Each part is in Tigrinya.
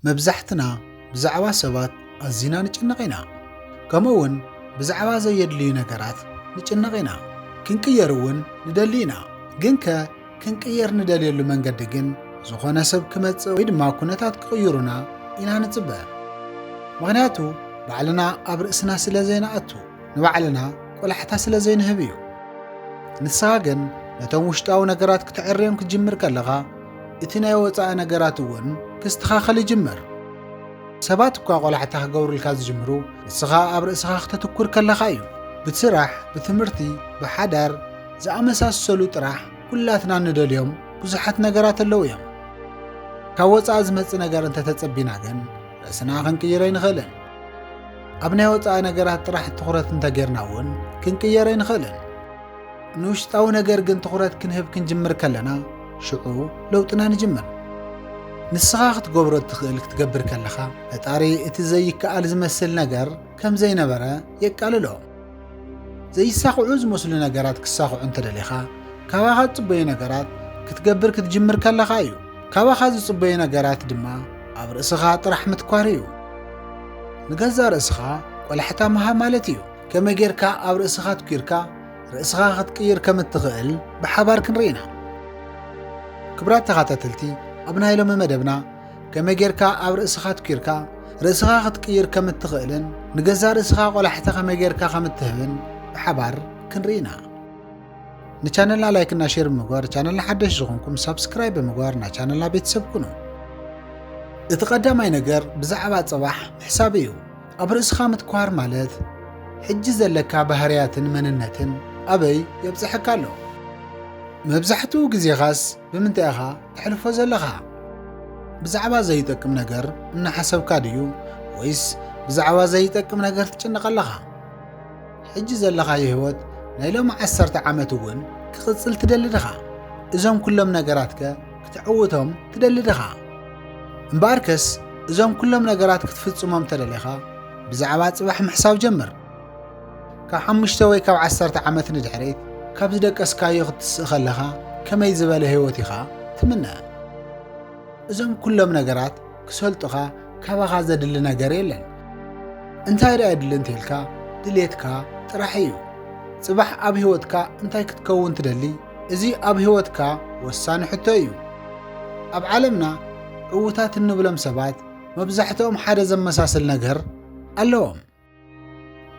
መብዛሕትና ብዛዕባ ሰባት ኣዚና ንጭነቕ ኢና፣ ከምኡውን ብዛዕባ ዘየድልዩ ነገራት ንጭነቕ ኢና። ክንቅየር እውን ንደሊ ኢና። ግንከ ክንቅየር ንደልየሉ መንገዲ ግን ዝኾነ ሰብ ክመጽእ ወይ ድማ ኩነታት ክቕይሩና ኢና ንጽበ። ምኽንያቱ ባዕልና ኣብ ርእስና ስለ ዘይንኣቱ፣ ንባዕልና ቆላሕታ ስለ ዘይንህብ እዩ። ንስኻ ግን ነቶም ውሽጣዊ ነገራት ክተዐርዮም ክትጅምር ከለኻ እቲ ናይ ወጻኢ ነገራት እውን ክስተኻኸል ይጅምር። ሰባት እኳ ቆላሕታ ክገብሩልካ ዝጅምሩ ንስኻ ኣብ ርእስኻ ክተትኩር ከለኻ እዩ። ብስራሕ፣ ብትምህርቲ፣ ብሓዳር ዝኣመሳሰሉ ጥራሕ ኩላትና ንደልዮም ብዙሓት ነገራት ኣለዉ እዮም። ካብ ወጻኢ ዝመጽእ ነገር እንተተጸቢና ግን ርእስና ክንቅይር ኣይንኽእልን። ኣብ ናይ ወጻኢ ነገራት ጥራሕ ትኹረት እንተጌርና እውን ክንቅየር ኣይንኽእልን። ንውሽጣዊ ነገር ግን ትኹረት ክንህብ ክንጅምር ከለና ሽዑ ለውጥና ንጅምር። ንስኻ ክትገብሮ እትኽእል ክትገብር ከለኻ ፈጣሪ እቲ ዘይከኣል ዝመስል ነገር ከም ዘይነበረ የቃልሎ። ዘይሳኽዑ ዝመስሉ ነገራት ክሳኽዑ እንተደሊኻ ካባኻ ዝጽበዩ ነገራት ክትገብር ክትጅምር ከለኻ እዩ። ካባኻ ዝጽበዩ ነገራት ድማ ኣብ ርእስኻ ጥራሕ ምትኳር እዩ። ንገዛ ርእስኻ ቆላሕታ ምሃብ ማለት እዩ። ከመይ ጌርካ ኣብ ርእስኻ ኣትኲርካ ርእስኻ ክትቅይር ከም እትኽእል ብሓባር ክንርኢ ኢና። ክብራት ተኻታተልቲ፣ ኣብ ናይ ሎሚ መደብና ከመይ ጌርካ ኣብ ርእስኻ ኣትኲርካ ርእስኻ ክትቅይር ከም እትኽእልን ንገዛእ ርእስኻ ቆላሕታ ከመይ ጌርካ ከም እትህብን ብሓባር ክንርኢ ኢና። ንቻነልና ላይክና ሼር ብምግባር ቻነልና ሓደሽ ዝኾንኩም ሳብስክራይብ ብምግባር ናይ ቻነልና ቤተሰብ ኩኑ። እቲ ቀዳማይ ነገር ብዛዕባ ጽባሕ ምሕሳብ እዩ። ኣብ ርእስኻ ምትኳር ማለት ሕጂ ዘለካ ባህርያትን መንነትን ኣበይ የብጽሐካ ኣሎ? መብዛሕትኡ ግዜኻስ ብምንታይ ኢኻ ተሕልፎ ዘለኻ? ብዛዕባ ዘይጠቅም ነገር እናሓሰብካ ድዩ ወይስ ብዛዕባ ዘይጠቅም ነገር ትጭነቕ ኣለኻ? ሕጂ ዘለኻዮ ህይወት ናይ ሎሚ ዓሰርተ ዓመት እውን ክቕጽል ትደሊ ድኻ? እዞም ኩሎም ነገራትከ ክትዕውቶም ትደሊ ድኻ? እምበኣርከስ እዞም ኩሎም ነገራት ክትፍጽሞም እንተደሊኻ ብዛዕባ ጽባሕ ምሕሳብ ጀምር። ካብ ሓሙሽተ ወይ ካብ ዓሰርተ ዓመት ንድሕሪት ካብ ዝደቀስካዮ ክትስእ ከለኻ ከመይ ዝበለ ህይወት ኢኻ ትምነ? እዞም ኩሎም ነገራት ክሰልጡኻ ካባኻ ዘድሊ ነገር የለን። እንታይ ደኣ የድሊ እንተልካ ድሌትካ ጥራሕ እዩ። ጽባሕ ኣብ ህይወትካ እንታይ ክትከውን ትደሊ? እዚ ኣብ ህይወትካ ወሳኒ ሕቶ እዩ። ኣብ ዓለምና ዕዉታት እንብሎም ሰባት መብዛሕትኦም ሓደ ዘመሳስል ነገር ኣለዎም።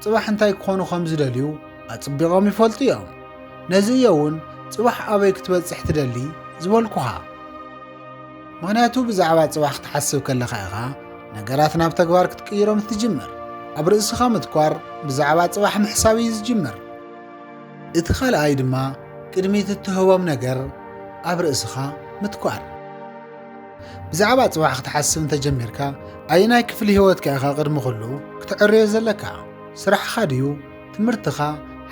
ጽባሕ እንታይ ክኾኑ ከም ዝደልዩ ኣጽቢቖም ይፈልጡ እዮም። ነዚ እየ እውን ጽባሕ ኣበይ ክትበጽሕ ትደሊ ዝበልኩኻ። ምክንያቱ ብዛዕባ ጽባሕ ክትሓስብ ከለኻ ኢኻ ነገራት ናብ ተግባር ክትቅይሮም እትጅምር። ኣብ ርእስኻ ምትኳር ብዛዕባ ጽባሕ ምሕሳብ እዩ ዝጅምር። እቲ ኻልኣይ ድማ ቅድሚ እትህቦም ነገር ኣብ ርእስኻ ምትኳር። ብዛዕባ ጽባሕ ክትሓስብ እንተጀሚርካ ኣየናይ ክፍሊ ህይወትካ ኢኻ ቅድሚ ኹሉ ክትዕርዮ ዘለካ? ስራሕኻ ድዩ? ትምህርትኻ?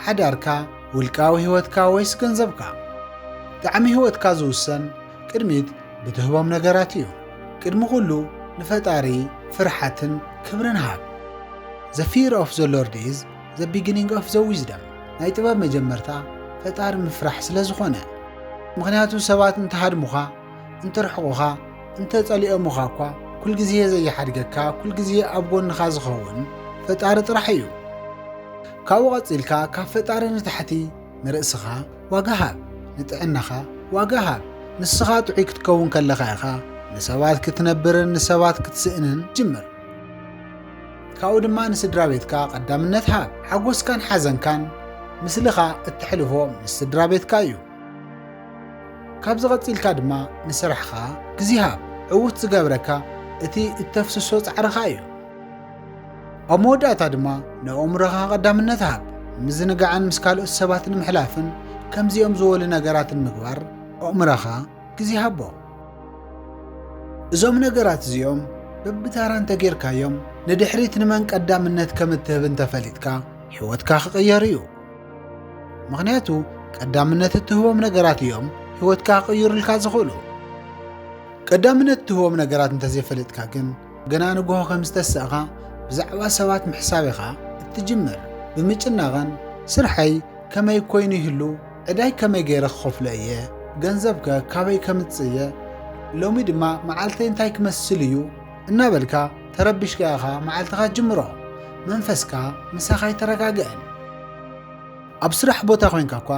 ሓዳርካ? ውልቃዊ ህይወትካ ወይስ ገንዘብካ? ጣዕሚ ህይወትካ ዝውሰን ቅድሚት ብትህቦም ነገራት እዩ። ቅድሚ ኹሉ ንፈጣሪ ፍርሓትን ክብርን ሃብ። ዘ ፊር ኦፍ ዘ ሎርድ ኢዝ The Beginning of the Wisdom ናይ ጥበብ መጀመርታ ፈጣሪ ምፍራሕ ስለ ዝኾነ። ምኽንያቱ ሰባት እንተሃድሙኻ፣ እንተርሕቑኻ፣ እንተጸሊኦሙኻ እኳ ኩልግዜ ዘይሓድገካ ኩልግዜ ኣብ ጎንኻ ዝኸውን ፈጣሪ ጥራሕ እዩ። ካብኡ ቀጺልካ ካብ ፈጣሪ ንታሕቲ ንርእስኻ ዋጋ ሃብ፣ ንጥዕናኻ ዋጋ ሃብ። ንስኻ ጥዑይ ክትከውን ከለኻ ኢኻ ንሰባት ክትነብርን ንሰባት ክትስእንን ትጅምር። ካብኡ ድማ ንስድራቤትካ ቀዳምነት ሃብ። ሓጎስካን ሓዘንካን ምስልኻ እተሕልፎ ምስ ስድራቤትካ እዩ። ካብዚ ቀጺልካ ድማ ንስራሕኻ ግዜ ሃብ። ዕዉት ዝገብረካ እቲ እተፍስሶ ጻዕርኻ እዩ። ኣብ መወዳእታ ድማ ንኣእምሮኻ ቀዳምነት ሃብ። ንምዝንጋዕን ምስ ካልኦት ሰባት ንምሕላፍን ከምዚኦም ዝበሉ ነገራት ንምግባር ኣእምሮኻ ግዜ ሃቦ። እዞም ነገራት እዚኦም በብታራ እንተጌርካዮም ንድሕሪት ንመን ቀዳምነት ከም እትህብ እንተፈሊጥካ ሕይወትካ ክቕየር እዩ። ምኽንያቱ ቀዳምነት እትህቦም ነገራት እዮም ሕይወትካ ክቕይሩልካ ዝኽእሉ። ቀዳምነት እትህቦም ነገራት እንተዘይፈለጥካ ግን ገና ንግሆ ከም ዝተሳእኻ ብዛዕባ ሰባት ምሕሳብ ኢኻ እትጅምር። ብምጭናቕን ስርሐይ ከመይ ኮይኑ ይህሉ ዕዳይ ከመይ ገይረ ክኸፍሎ እየ? ገንዘብከ ካበይ ከምጽእ እየ? ሎሚ ድማ መዓልተይ እንታይ ክመስል እዩ? እናበልካ ተረቢሽካ ኢኻ መዓልትኻ ጅምሮ። መንፈስካ ምሳኻ ኣይተረጋግእን። ኣብ ስራሕ ቦታ ኮይንካ እኳ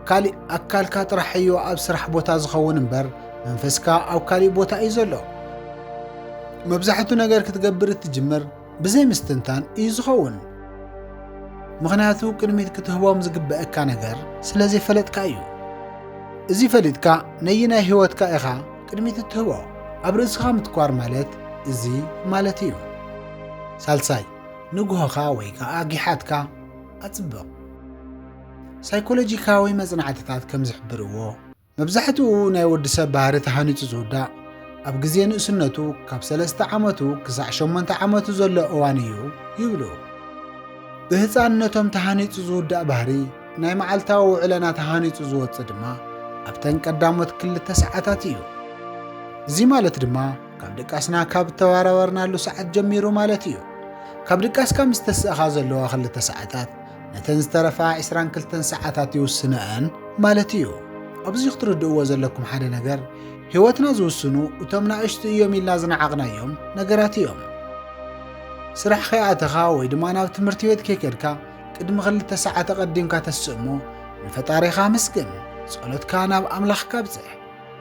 ካሊእ ኣካልካ ጥራሕ እዩ ኣብ ስራሕ ቦታ ዝኸውን እምበር መንፈስካ ኣብ ካሊእ ቦታ እዩ ዘሎ። መብዛሕቱ ነገር ክትገብር እትጅምር ብዘይ ምስትንታን እዩ ዝኸውን። ምኽንያቱ ቅድሚት ክትህቦም ዝግበእካ ነገር ስለ ዘይፈለጥካ እዩ። እዚ ፈሊጥካ ነይናይ ህይወትካ ኢኻ ቅድሚት እትህቦ ኣብ ርእስኻ ምትኳር ማለት እዚ ማለት እዩ። ሳልሳይ ንግሆኻ ወይ ከዓ ጊሓትካ ኣጽብቕ። ሳይኮሎጂካዊ መጽናዕትታት ከም ዝሕብርዎ መብዛሕትኡ ናይ ወዲ ሰብ ባህሪ ተሃኒጹ ዝውዳእ ኣብ ግዜ ንእስነቱ ካብ ሰለስተ ዓመቱ ክሳዕ ሸሞንተ ዓመቱ ዘሎ እዋን እዩ ይብሉ። ብህፃንነቶም ተሃኒጹ ዝውዳእ ባህሪ ናይ መዓልታዊ ውዕለና ተሃኒጹ ዝወጽእ ድማ ኣብተን ቀዳሞት ክልተ ሰዓታት እዩ። እዚ ማለት ድማ ካብ ድቃስና ካብ እተባራበርናሉ ሰዓት ጀሚሩ ማለት እዩ። ካብ ድቃስካ ምስ ተስእኻ ዘለዋ ክልተ ሰዓታት ነተን ዝተረፋ ዕስራን ክልተን ሰዓታት ይውስነኣን ማለት እዩ። ኣብዚ ክትርድእዎ ዘለኩም ሓደ ነገር ህይወትና ዝውስኑ እቶም ናእሽቱ እዮም ኢልና ዝነዓቕናዮም ነገራት እዮም። ስራሕ ከይኣተኻ ወይ ድማ ናብ ትምህርቲ ቤት ከይከድካ ቅድሚ ክልተ ሰዓት ኣቐዲምካ ተስእ እሞ ንፈጣሪኻ ምስግን፣ ጸሎትካ ናብ ኣምላኽካ ብጽሕ።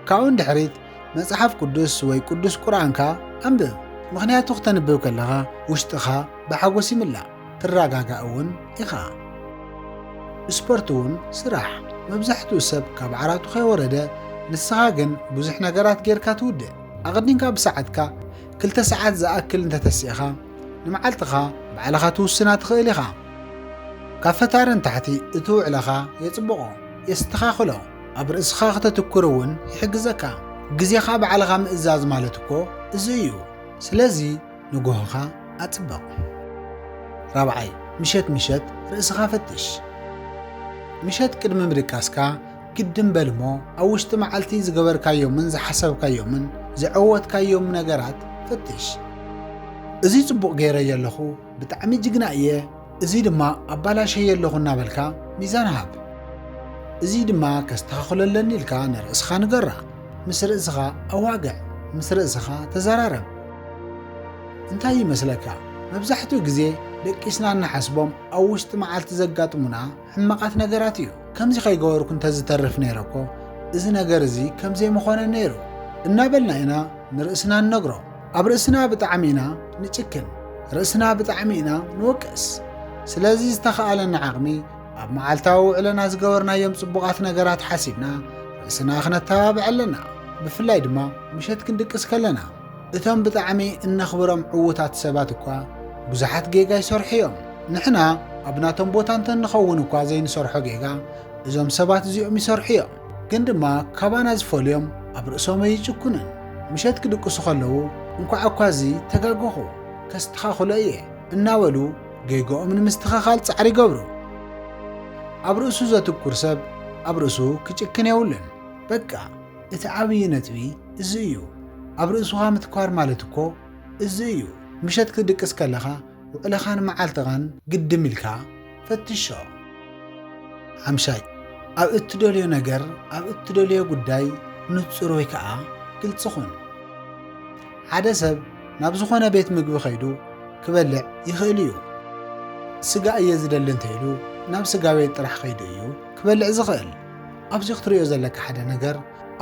ካብኡ ንድሕሪት መጽሓፍ ቅዱስ ወይ ቅዱስ ቁርኣንካ ኣንብብ፣ ምኽንያቱ ክተንብብ ከለኻ ውሽጥኻ ብሓጎስ ይምላእ። ትረጋጋእ እውን ኢኻ። ስፖርት እውን ስራሕ። መብዛሕትኡ ሰብ ካብ ዓራቱ ከይወረደ ንስኻ ግን ብዙሕ ነገራት ጌርካ ትውድእ። ኣቐዲምካ ብሰዓትካ ክልተ ሰዓት ዝኣክል እንተተሲእኻ ንመዓልትኻ ባዕልኻ ትውስና ትኽእል ኢኻ። ካብ ፈታሪ ንታሕቲ እቲ ውዕለኻ የጽብቖ፣ የስተኻኽሎ፣ ኣብ ርእስኻ ክተትኩር እውን ይሕግዘካ። ግዜኻ ባዕልኻ ምእዛዝ ማለት እኮ እዚ እዩ። ስለዚ። ንጎሆኻ ኣጽብቕ። ራብዓይ፣ ምሸት ምሸት ርእስኻ ፈትሽ። ምሸት ቅድሚ ምድቃስካ ግድም በል እሞ ኣብ ውሽጢ መዓልቲ ዝገበርካዮምን ዝሓሰብካዮምን ዝዐወትካዮም ነገራት ፈትሽ። እዚ ጽቡቕ ገይረዮ ኣለኹ፣ ብጣዕሚ ጅግና እየ፣ እዚ ድማ ኣባላሸየ ኣለኹ እናበልካ ሚዛን ሃብ። እዚ ድማ ከስተኻኽሎ ኣለኒ ኢልካ ንርእስኻ ንገራ። ምስ ርእስኻ ኣዋግዕ፣ ምስ ርእስኻ ተዘራረብ። እንታይ ይመስለካ፣ መብዛሕትኡ ግዜ ደቂስና እንሓስቦም ኣብ ውሽጢ መዓልቲ ዘጋጥሙና ሕማቃት ነገራት እዩ ከምዚ ከይገበርኩ እንተዝተርፍ ነይረ እኮ እዚ ነገር እዚ ከምዘይምኾነ ነይሩ እናበልና ኢና ንርእስና ንነግሮ ኣብ ርእስና ብጣዕሚ ኢና ንጭክን ርእስና ብጣዕሚ ኢና ንወቅስ ስለዚ ዝተኸኣለና ዓቕሚ ኣብ መዓልታዊ ውዕለና ዝገበርናዮም ጽቡቓት ነገራት ሓሲብና ርእስና ክነተባብዕ ኣለና ብፍላይ ድማ ምሸት ክንድቅስ ከለና እቶም ብጣዕሚ እነኽብሮም ዕዉታት ሰባት እኳ ብዙሓት ጌጋ ይሰርሑ እዮም። ንሕና ኣብ ናቶም ቦታ እንተ ንኸውን እኳ ዘይንሰርሖ ጌጋ እዞም ሰባት እዚኦም ይሰርሑ እዮም። ግን ድማ ካባና ዝፈልዮም ኣብ ርእሶም ኣይጭኩኑን። ምሸት ክድቅሱ ከለዉ እንኳዕ እኳ እዚ ተጋገኹ፣ ከስተኻኽሎ እየ እናበሉ ጌግኦም ንምስትኸኻል ጻዕሪ ይገብሩ። ኣብ ርእሱ ዘትኩር ሰብ ኣብ ርእሱ ክጭክን የብሉን። በቃ! እቲ ዓብዪ ነጥቢ እዚ እዩ። ኣብ ርእሱኻ ምትኳር ማለት እኮ እዚ እዩ። ምሸት ክትድቅስ ከለኻ ውዕለኻን መዓልትኻን ግድም ኢልካ ፈትሾ። ሓምሻይ፣ ኣብ እትደልዮ ነገር፣ ኣብ እትደልዮ ጉዳይ ንጹር ወይ ከዓ ግልፂ ኹን። ሓደ ሰብ ናብ ዝኾነ ቤት ምግቢ ከይዱ ክበልዕ ይኽእል እዩ። ስጋ እየ ዝደሊ እንተይሉ ናብ ስጋ ቤት ጥራሕ ከይዱ እዩ ክበልዕ ዝኽእል። ኣብዚ ክትርእዮ ዘለካ ሓደ ነገር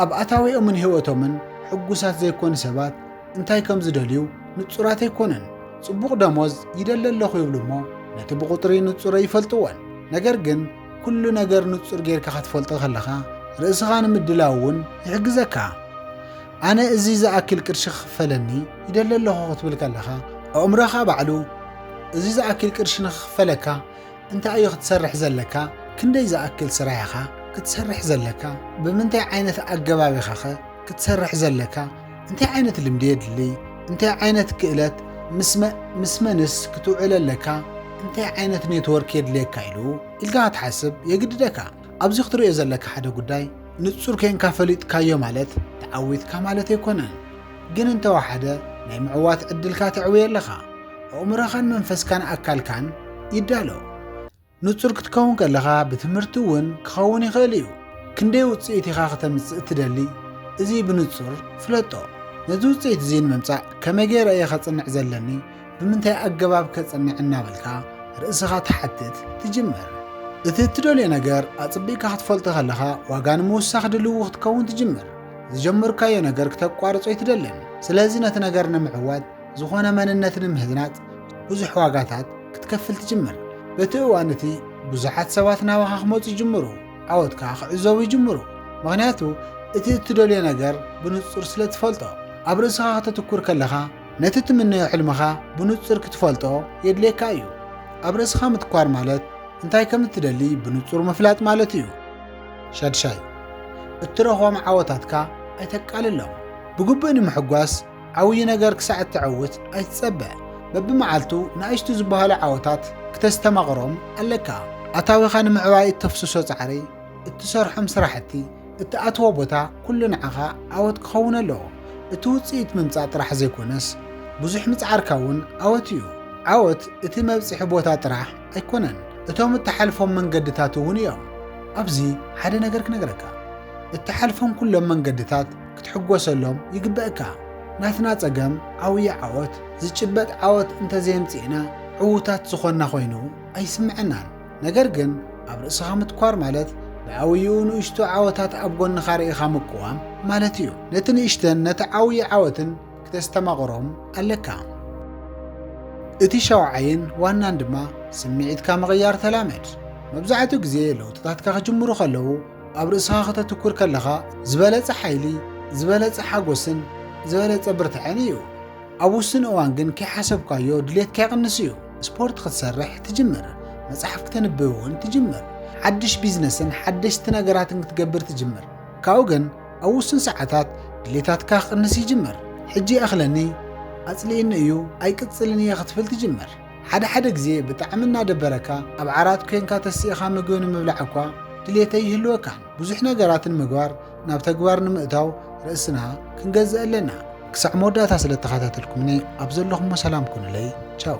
ኣብ ኣታዊኦምን ህይወቶምን ሕጉሳት ዘይኮኑ ሰባት እንታይ ከም ዝደልዩ ንጹራት ኣይኮኑን። ጽቡቕ ደሞዝ ይደሊ ኣለኹ ይብሉ እሞ ነቲ ብቑጥሪ ንጹረ ይፈልጥዎን። ነገር ግን ኩሉ ነገር ንጹር ጌርካ ክትፈልጦ ከለኻ ርእስኻ ንምድላው እውን ይሕግዘካ። ኣነ እዚ ዝኣክል ቅርሺ ክኽፈለኒ ይደሊ ኣለኹ ክትብል ከለኻ ኣእምሮኻ ባዕሉ እዚ ዝኣክል ቅርሺ ንክኽፈለካ እንታይ እዩ ክትሰርሕ ዘለካ? ክንደይ ዝኣክል ስራይ ኢኻ ክትሰርሕ ዘለካ? ብምንታይ ዓይነት ኣገባብ ኢኻ ከ ክትሰርሕ ዘለካ? እንታይ ዓይነት ልምዲ የድሊ? እንታይ ዓይነት ክእለት ምስ መንስ ክትውዕል ኣለካ? እንታይ ዓይነት ኔትወርክ የድልየካ ኢሉ ኢልካ ክትሓስብ የግድደካ። ኣብዚ ክትሪኦ ዘለካ ሓደ ጉዳይ ንጹር ኴንካ ፈሊጥካዮ ማለት ተዓዊትካ ማለት ኣይኮነን። ግን እንተወሓደ ናይ ምዕዋት ዕድልካ ተዕውዮ ኣለኻ። ኣእምሮኻን መንፈስካን ኣካልካን ይዳሎ። ንጹር ክትከውን ከለኻ ብትምህርቲ እውን ክኸውን ይኽእል እዩ። ክንደይ ውጽኢት ኢኻ ክተምጽእ እትደሊ? እዚ ብንጹር ፍለጦ። ነዚ ውጽኢት እዚ ንምምጻእ ከመይ ገይረ እየ ከጽንዕ ዘለኒ? ብምንታይ ኣገባብ ከጽንዕ እናበልካ ርእስኻ ትሓትት ትጅምር። እቲ እትደልዮ ነገር ኣጽቢቕካ ክትፈልጦ ከለኻ ዋጋ ንምውሳኽ ድልው ክትከውን ትጅምር። ዝጀመርካዮ ነገር ክተቋርጾ ኣይትደልን። ስለዚ ነቲ ነገር ንምዕዋት ዝኾነ መንነት ንምህናጽ ብዙሕ ዋጋታት ክትከፍል ትጅምር። በቲ እዋን እቲ ብዙሓት ሰባት ናባኻ ክመፁ ይጅምሩ፣ ዓወትካ ክዕዘቡ ይጅምሩ። ምክንያቱ እቲ እትደልዮ ነገር ብንጹር ስለ ትፈልጦ። ኣብ ርእስኻ ከተትኩር ከለኻ ነቲ ትምነዮ ሕልምኻ ብንጹር ክትፈልጦ የድልየካ እዩ። ኣብ ርእስኻ ምትኳር ማለት እንታይ ከም እትደሊ ብንጹር ምፍላጥ ማለት እዩ። ሻድሻይ፣ እትረኽቦም ዓወታትካ ኣይተቃልሎም። ብግቡእ ንምሕጓስ ዓብዪ ነገር ክሳዕ እተዕውት ኣይትጸበ። በብመዓልቱ ንኣሽቱ ዝበሃሉ ዓወታት ክተስተማቕሮም ኣለካ። ኣታዊኻ ንምዕባይ እተፍስሶ ጻዕሪ፣ እትሰርሖም ስራሕቲ፣ እትኣትዎ ቦታ ኩሉ ንዓኻ ዓወት ክኸውን ኣለዎ። እቲ ውጽኢት ምምጻእ ጥራሕ ዘይኮነስ ብዙሕ ምጽዓርካ እውን ዓወት እዩ። ዓወት እቲ መብጽሒ ቦታ ጥራሕ ኣይኮነን እቶም እትሓልፎም መንገድታት እውን እዮም። ኣብዚ ሓደ ነገር ክነግረካ። እትሓልፎም ኩሎም መንገድታት ክትሕጎሰሎም ይግበእካ። ናትና ጸገም ዓውዪ ዓወት፣ ዝጭበጥ ዓወት እንተዘየምጺእና ዕዉታት ዝኾንና ኮይኑ ኣይስምዐናን። ነገር ግን ኣብ ርእስኻ ምትኳር ማለት ብዓውይኡ ንእሽቶ ዓወታት ኣብ ጎንኻ ርኢኻ ምቅዋም ማለት እዩ። ነቲ ንእሽተን ነቲ ዓውዪ ዓወትን ክተስተማቕሮም ኣለካ። እቲ ሻውዓይን ዋናን ድማ ስምዒትካ ምቕያር ተላመድ። መብዛሕትኡ ግዜ ለውጥታትካ ክጅምሩ ከለዉ ኣብ ርእስኻ ከተትኩር ከለኻ ዝበለጸ ሓይሊ፣ ዝበለጸ ሓጎስን ዝበለጸ ብርትዐን እዩ። ኣብ ውስን እዋን ግን ከይሓሰብካዮ ድሌትካ ይቕንስ እዩ። ስፖርት ክትሰርሕ ትጅምር፣ መጽሓፍ ክተንብብ እውን ትጅምር፣ ሓድሽ ቢዝነስን ሓደሽቲ ነገራትን ክትገብር ትጅምር። ካብኡ ግን ኣብ ውሱን ሰዓታት ድሌታትካ ክቕንስ ይጅምር። ሕጂ ይኣኽለኒ፣ ኣጽሊኡኒ እዩ፣ ኣይቅጽልን እየ ክትብል ትጅምር። ሓደ ሓደ ግዜ ብጣዕሚ እናደበረካ ኣብ ዓራት ኮንካ ተሲእኻ ምግቢ ንምብላዕ እኳ ድሌተይ ይህልወካን። ብዙሕ ነገራትን ምግባር ናብ ተግባር ንምእታው ርእስና ክንገዝእ ኣለና። ክሳዕ መወዳእታ ስለ እተኸታተልኩምኒ ኣብ ዘለኹሞ ሰላም ኩኑለይ ቻው።